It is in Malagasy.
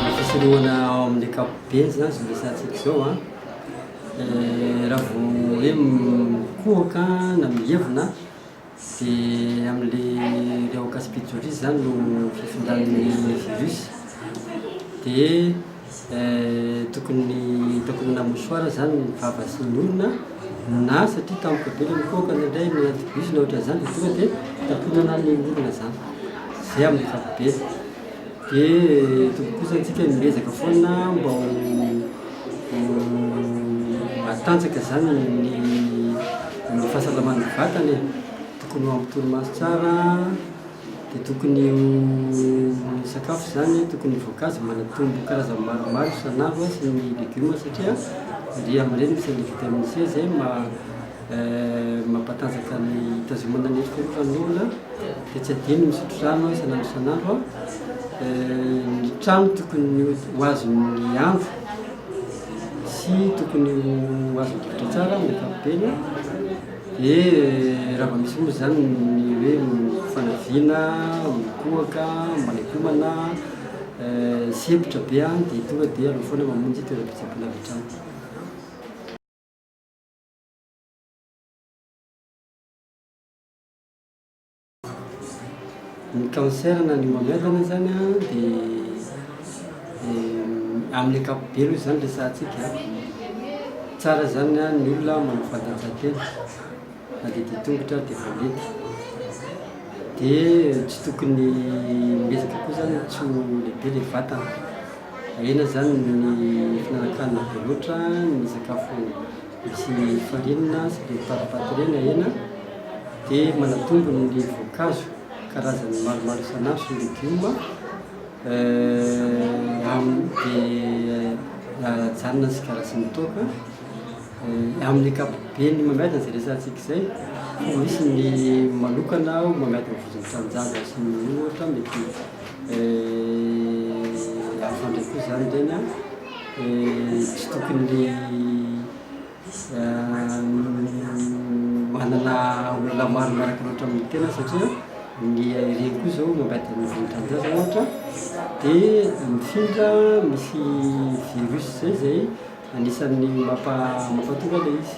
Ny fisorohana ao amin'ny ankapobeny izany izao resahantsika izao an, raha vao hoe mikohoka na mievona dia amin'ilay rehoka sy pitsorizy izany no fifindrany ny virus dia Tokony hitako amina mouchoir izany ny vava sy ny orona na satria tampoka be ilay mikohakana indray ny antivirus na ohatran'ny izany dia tonga dia takonana ny orona izany. Izay amin'ny ankapobeny. Dia tokony kosa antsika ny miezaka foana mba ho matanjaka izany ny fahasalaman'ny vatana e. Tokony ho amin'ny torimaso tsara. dia tokony ho ny sakafo izany tokony ny voankazo manatombo karazany maromaro isan'andro sy ny legioma satria dia amin'ireny misy an'ilay vitamine C izay mampatanjaka ny hitazomana ny endrika ny fanoloana dia tsy adino ny misotro rano isan'andro isan'andro ny trano tokony ho azon'ny andro sy tokony ho azon'ny rivotra tsara ny ankapobeny Ee, raha vao misy moa izany ny hoe fanaviana, mikohaka, manaikomana, sempotra be an, dia tonga dia aleo foana mamonjy toeram-pitsaboana avy hatrany. Ny cancer na ny mamelona izany an, dia amin'ny ankapobeny moa izany resahantsika an, tsara izany an ny olona manao fanatanjahantena na dia dia tongotra ary dia efa mety, dia tsy tokony miezaka koa izany tsy ho lehibe ilay vatana, ahiana izany ny fihinanankanina be loatra, ny sakafo. Misy farinina sy be faripatirena hena dia manatombo ny voankazo karazany maromaro isan'andro sy ny legioma dia ajanona ny sigara sy ny toaka. Amin'ny ankapobeny mamiadana izay resahantsika izay fa misy ny manokana ho mamiadana vozon'ny tanindrazana sy ny ohatra mety hafa indray koa izany ireny an! tsy tokony manana olona maro miaraka loatra amin'ny tena satria ny ireny koa izao mangaty ny vohi-dranon-jaza ohatra dia mifindra misy virus izay izay anisan'ny mampa- mampahatonga ilay izy